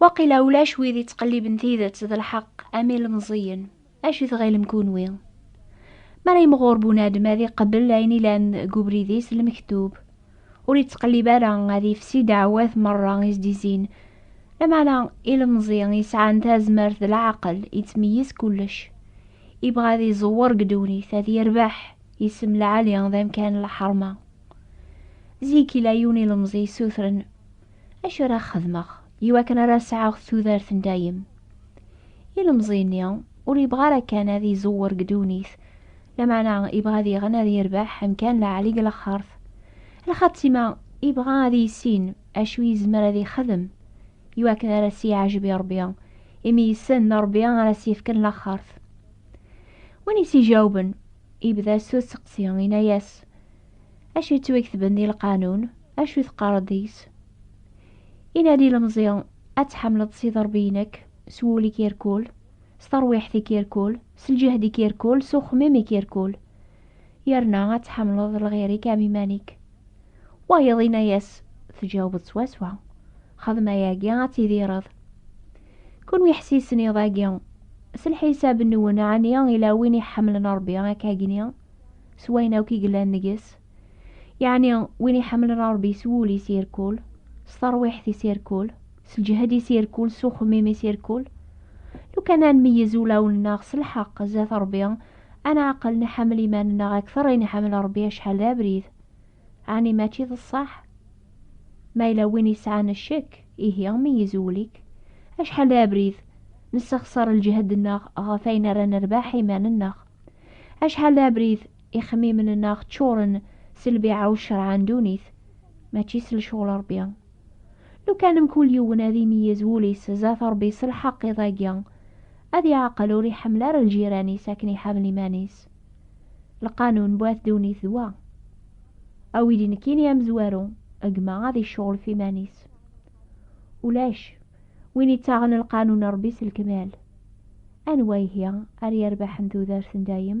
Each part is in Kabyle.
Waqila ulac wid yettqelliben tidet d lḥeqq am ilmeẓiyen, acu tɣilem kunwi? Mi ara yimɣur bunadem ad iqebbel ayen ilan deg ubrid-is lmektub, ur yettqellib ara ad yefsi ddeɛwat merra i s-d-izin, lameɛna ilemẓi yesɛan tazmert d leɛqel yettmeyyiz kullec, yebɣa ad iẓewwer deg ddunit, ad yerbeḥ isem lɛali d amkan n lḥerma. Zik yella yiwen ilemẓi yessutren Acu ara xedmeɣ i wakken ara sɛeɣ tudert n dayem? Ilemẓi-nni ur yebɣa ara kan ad iẓewwer deg ddunit, lameɛna yebɣa diɣen ad yerbeḥ amkan lɛali deg lexxert. Lxatima, yebɣa ad yissin acu yezmer ad ixdem i wakken ara s-yeɛjeb i Rebbi, imi yessen d Rebbi ara s-yefken laxxert. Win i s-ijawben, yebda s useqsi, yenna-yas, Acu yettwagtben di lqanun? Acu teqqareḍ deg-s? Inadi ilemẓi, ad tḥemmleḍ Sidi Ṛebbi-inek s wul-ik irkul, s terwiḥt-ik irkul, s lǧehd-ik irkul, s uxemmim-ik irkul. Yerna ad tḥemmleḍ lɣir-ik am iman-ik. Wayeḍ inna-yas, Tjawbeḍ swaswa. Xdem ayagi, ad tidireḍ. Kunwi ḥsisen iḍ-agi. S lḥisab-nwen, ɛni yella win iḥemmlen Ṛebbi akka agni? s wayen akk i yellan deg-s, yeɛni win iḥemmlen Ṛebbi s wul-is irkul, s terwiḥt-is irkul, s lǧehd-is irkul, s uxemmim-is irkul. Lukan ad nmeyyez ulawen-nneɣ s lḥeqq zdat Ṛebbi, ad neɛqel nḥemmel iman-nneɣ akteṛ i nḥemmel Ṛebbi acḥal d abrid. Ɛni mačči d ṣṣeḥ? Ma yella win yesɛan ccekk, ihi meyyez wul-ik. Acḥal d abrid nessexṣer lǧehd-nneɣ ɣef wayen ara nerbeḥ iman-nneɣ! Acḥal d abrid, ixemmimen-nneɣ ččuren s lbiɛa u ccerɛa n ddunit, mačči s lecɣel Ṛebbi. Lukan mkul yiwen ad imeyyez wul-is zdat Ṛebbi s lḥeqq iḍ-agi, ad iɛqel ur iḥemmel ara lǧiran-is akken iḥemmel iman-is. Lqanun n wat ddunit d wa. A wid inekkini amezwaru, gma ad icceɣl ɣef iman-is. Ulac. Win yettaɣen lqanun n Ṛebbi s lekmal, anwa ihi ara yerbeḥen tudert n dayem?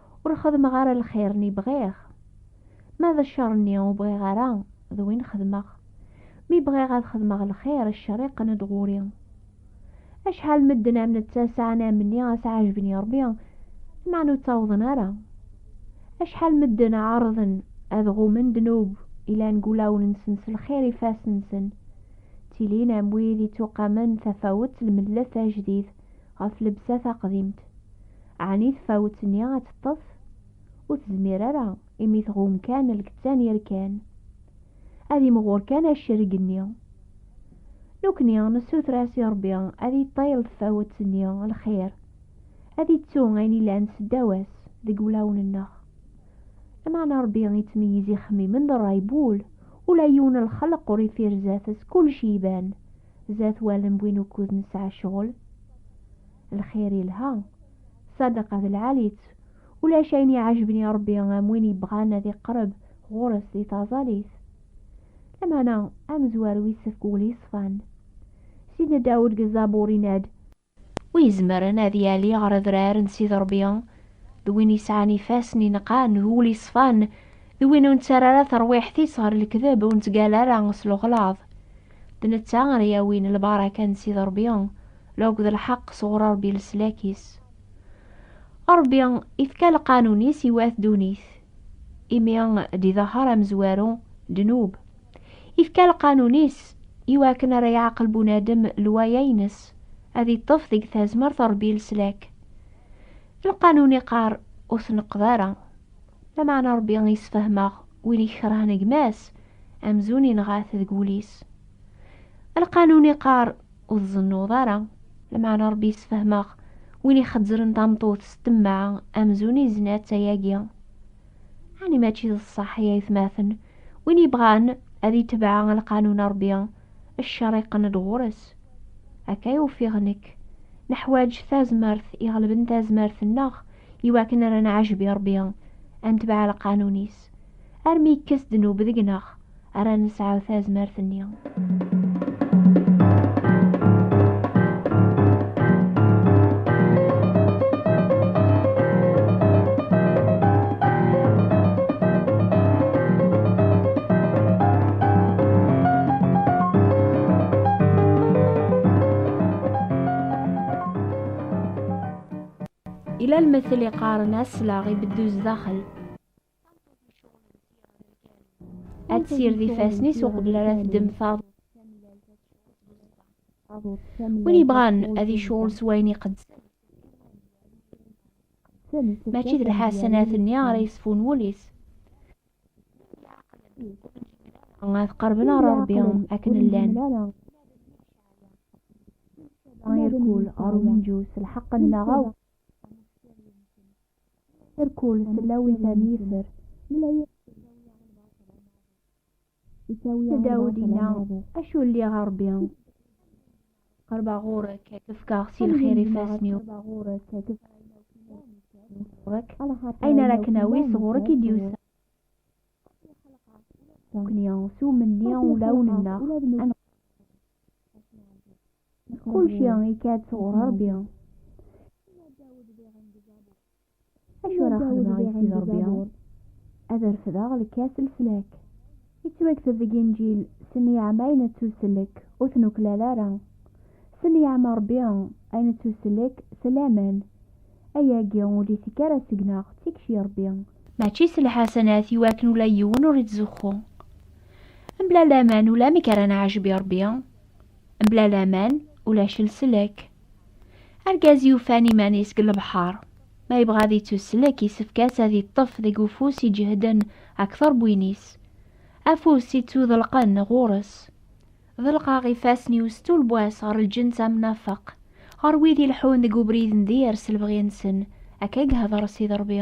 Ur xedmeɣ ara lxir-nni bɣiɣ. Ma d ccer-nni ur bɣiɣ ara, d win xedmeɣ. Mi bɣiɣ ad xedmeɣ lxir, ccer yeqqen-d ɣur-i. Acḥal medden am netta sɛan amni as-ɛejben i Rebbi, lmeɛna ur ttawḍen ara. Acḥal medden ɛerḍen ad ɣummen ddnub yellan deg wulawen-nsen s lxir ifassen-nsen, ttilin am wid ittuqamen tafawet lmellet ajdid. ɣef lebsa taqdimt. Ɛni tfawet-nni ad teṭṭef? Ur tezmir ara, imi tɣum kan lkettan yerkan. Ad imɣur kan accerg-nni. Nukni nessuter-as i Rebbi ad iṭṭil tfawet-nni lxir, ad ittu ayen ilan seddaw-as deg wulawen-nneɣ. Lameɛna Rebbi ittmeyyiz ixemmimen d ṛṛay n wul, ula yiwen n lxelq ur ifirez-at, s kullec iban, zat wallen win ukud nesɛa ccɣel. Lxir ilha, ṣṣadaqa d lɛali-tt, ulac ayen iɛejben i Ṛebbi am win yebɣan ad iqreb ɣur-s di taẓallit. Lameɛna, amezwaru isefk wul yeṣfan. Sidna Dawed deg Zzabur yenna-d, Wi izemren ad yali ɣer adrar n Sidi Ṛebbi, d win yesɛan ifassen ineqqan, d wul yeṣfan, d win ur nettarra ara tarwiḥt-is ɣer lekdeb, ur nettgalla ara s lexlaḍ. D netta ara yawin lbaraka n Sidi Ṛebbi, la akked lḥeqq sɣur Ṛebbi leslak-is. Ṛebbi ifka lqanun-is i wat ddunit, imi d-idehher amezwaru, ddnub. Ifka lqanun-is i wakken ara yeɛqel bunadem lwaya-ines, ad iṭṭef deg tazmert n Rebbi leslak. Lqanun iqqar, ur tneqqed ara. Lameɛna Rebbi isfehmeɣ win i ikerhen gma-s, amzun inɣa-t deg wul-is. Lqanun iqqar, ur tzennuḍ ara. Lameɛna Rebbi isfehmeɣ win ixezzren tameṭṭut s temmeɛ, amzun izna-tt ayagi. Ani mačči d ṣṣeḥ ay aytmaten, win yebɣan ad itbeɛ lqanun n Ṛebbi, cceṛ iqqen-d ɣur-s. Akka ay ufiɣ nekk. Neḥwaj tazmert iɣelben tazmert-nneɣ i wakken ara nɛejb i Ṛebbi, ad netbeɛ lqanun-is, armi yekkes ddnub deg-neɣ. ara nesɛu tazmert-nni. Ila lmettel iqaren aslaɣ ibeddu zdaxel. ad tsired ifassen-is uqbel ara teddem taḍut win yebɣan ad icuɣel s wayen iqedsen mačči d lḥasanat-nni ara yesfun wul-is ad qerben ɣer rebbi akken llan irkul ɣer umenǧu s lḥeqq-nneɣ Irkul sellawit am yifer. Dawed inna, acu lliɣ a Ṛebbi? Qerbeɣ ɣur-k ad k-fkeɣ si lxir ifassen-iw. Ayen ara k-nawi sɣur-k i d-yusa. Nekkni s umenni ulawen-nneɣ. Kulci ikad sɣur Ṛebbi. Acu ara xedmeɣ i Sidi Ṛebbi? Ad refdeɣ lkas n leslak. Yettwakteb deg Inǧil, Senniɛem ayen nettuselek, ur t-nuklal ara. Senniɛem Ṛebbi ayen nettuselek, s laman. Ayagi ur d-ittekk ara seg-neɣ, d tikci n Ṛebbi. Mačči s lḥasanat i wakken ula yiwen ur ittzuxxu. Mebla laman ulamek ara neɛjeb i Ṛebbi. Mebla laman ulac leslek. Argaz yufan iman-is deg lebḥer. Ma yebɣa ad yettuslek, yessefk-as ad yeṭṭef deg ufus iǧehden akteṛ n win-is. Afus ittuḍelqen ɣur-s. Ḍelqeɣ ifassen-iw s tulbwa-s ɣer lǧens amnafeq, ɣer wid ileḥḥun deg ubrid n dir s lebɣi-nsen, akka i ihdeṛ Sidi Ṛebbi.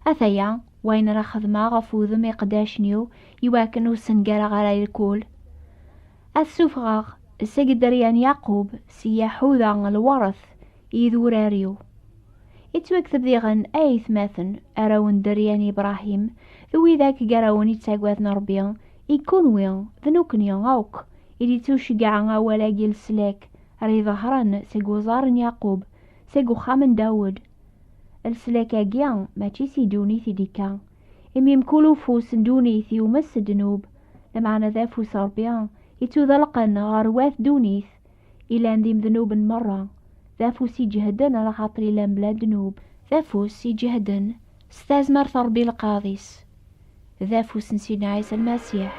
Ataya, wayen ara xedmeɣ ɣef wudem iqeddacen-iw, i wakken ur ssengareɣ ara lkul. Ad sufɣeɣ seg dderya n Yaqub, s Yaḥuda lweṛt i idurar-iw. Ittwakteb diɣen, A aytmaten, arraw n dderya n Ibṛahim, d wid akk gar-awen ittaggaden Ṛebbi, i kenwi, d nekkni akk, i d-ittuceggɛa awal-agi n leslak, ara iḍehren seg uẓar n Yaqub, seg uxxam n Dawed. Leslak-agi mačči si ddunit i d-ikka, imi mkul ufus n ddunit yumes s ddnub, lameɛna d afus n Ṛebbi yettudalqen ɣer wat ddunit ilan d imednuben meṛṛa, d afus iǧehden lxaṭer ilan bla ddnub, d afus iǧehden s tazmert n Ṛebbi lqaḍ-is, d afus n Sidna Ɛisa Lmasiḥ.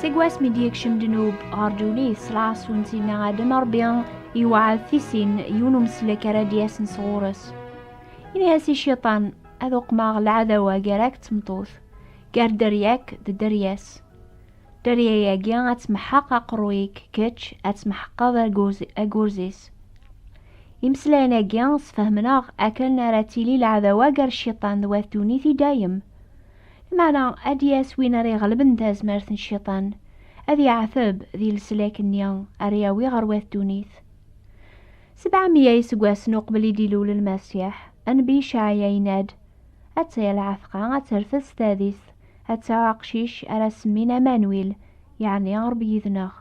Seg wasmi d-yekcem ddnub ɣer ddunit s lɛas n Sidna Adem, Ṛebbi yewɛed tisin yiwen umeslek ara d-yasen sɣur-s. Ini-as i Ciṭan, ad uqmeɣ lɛadawa gar-ak d tmeṭṭut, gar dderya-k d dderya-s. Dderya-agi ad tmeḥḥeq aqerruy-ik, kečč ad tmeḥqeḍ agurz-is. Imeslayen-agi sfehmen-aɣ akken ara tili lɛadawa gar Ciṭan d wat ddunit i dayem. Meɛna ad d-yas win ara iɣelben tazmert n cciṭan, ad yeɛteb di leslak-nni ara yawi ɣer wat ddunit. Sebɛa meyya iseggasen uqbel i d-ilul Lmasiḥ, nnbi Icɛaya yenna-d, Ad taya lɛetqa, ad terfed s tadist, ad tesɛu aqcic ara semmin Amanwil, yeɛni Ṛebbi yid-neɣ.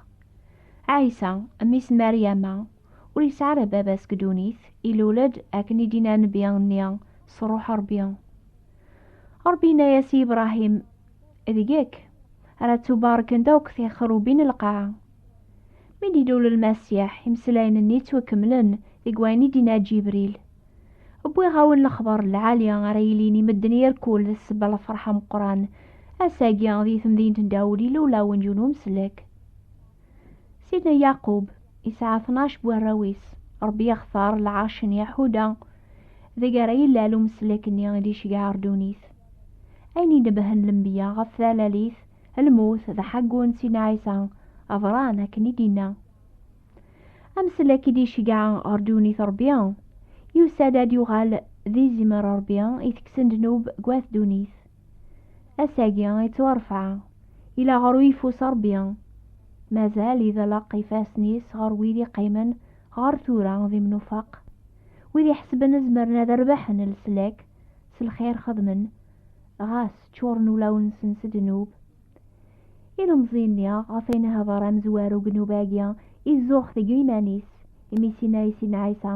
Ɛisa, mmi-s n Meryama, ur yesɛi ara baba-s deg ddunit, ilul-d akken i d-inna nnbi nni s ṛṛuḥ Ṛebbi. Ṛebbi inna-yas i Ibṛahim, Deg-k ara ttubarkent akk tixerrubin n lqaɛa. Mi d-ilul Lmasiḥ, imeslayen-nni ttwakemmlen deg wayen i d-inna Ǧibril, Wwiɣ-awen lexbaṛ n lɛali ara yilin i medden irkul d ssebba n lfeṛḥ ameqqran, ass-agi di temdint n Dawed ilul-awen-d yiwen umsellek. Sidna Yaqub yesɛa tnac n warraw-is, Ṛebbi yextar lɛerc n Yaḥuda, deg ara yellal umeslek-nni i d-iceggeɛ ar ddunit. Ayen inebhen lenbiya ɣef talalit, lmut, d aḥaggu n Sidna Ɛisa, aḍran akken i d-inna. Ameslek i d-iceggeɛ ɣer ddunit Ṛebbi, yusa-d ad yuɣal d izimer Ṛebbi i teksen ddnub deg wat ddunit. Ass-agi i ttwarefɛa i la ɣer uyeffus Rebbi, mazal iḍelleq ifassen-is ɣer wid iqqimen ɣer tura d imnufaq, wid iḥesben zemren ad rebḥen leslak s lxir xedmen, ɣas ččuren ulawen-nsen s ddnub. Ilemẓi-nni ɣef ay nehder amezwar ugnub-agi izuxx deg yiman-is, imi s inna-as-in Ɛisa,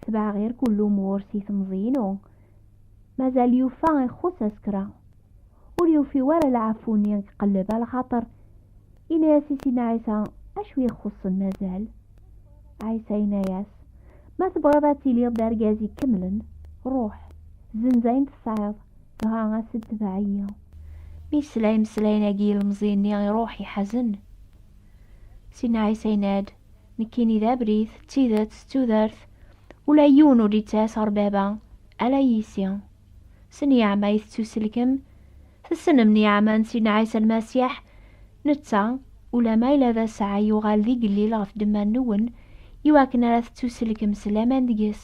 Tebɛeɣ irkul umur si temẓi-inu, Mazal yufa ixuṣ asekra. Ur yufi wara lɛafu-nni iqelleb a lxaṭer. Yenna-yas i Sina Ɛisa, Acu ixuṣṣen mazal? Ɛisa yenna-yas, Ma tebɣiḍ ad tiliḍ d argaz ikemlen, ruḥ, zzenz ayen tesɛiḍ, dɣa as-d tbeɛ-iyi. Mi yesla imeslayen-agi ilemẓi-nni iruḥ iḥazen. Sina Ɛisa yenna-d, Nekkini d abrid, d tidet, d tudert, ula yiwen ur yettɛas ɣer baba, ala yisi. S nniɛma ay tettuselkem, tessnem nniɛma n Sidna Ɛisa Lmasiḥ, netta, ulamma yella d asɛa yuɣal d igellil ɣef ddemma-nwen, iwakken ara tettuselkem s laman deg-s.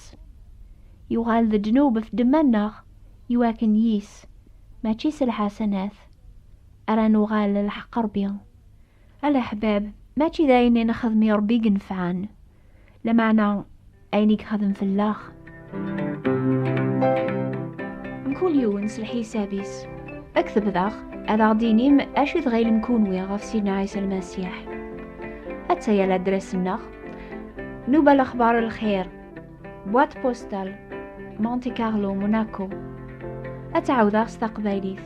Yuɣal d ddnub ɣef ddemma-nneɣ, iwakken yis, mačči s lḥasanat, ara nuɣal lḥeqq Rebbi. Alaḥbab, mačči d ayen i nexdem i Ṛebbi i yenfɛen, lameɛna ayen i yexdem fell-aɣ. Mkul yiwen s lḥisab-is. Ad k-tebdaɣ, ad aɣ-d-tinim acu i tɣilem kunwi ɣef Sidna Ɛisa Lmasiḥ. Atta ya ladras-nneɣ, Nuba Lexbar Lxir, Boîte postale, Monte Carlo, Monaco. Ad tɛawdeɣ s taqbaylit.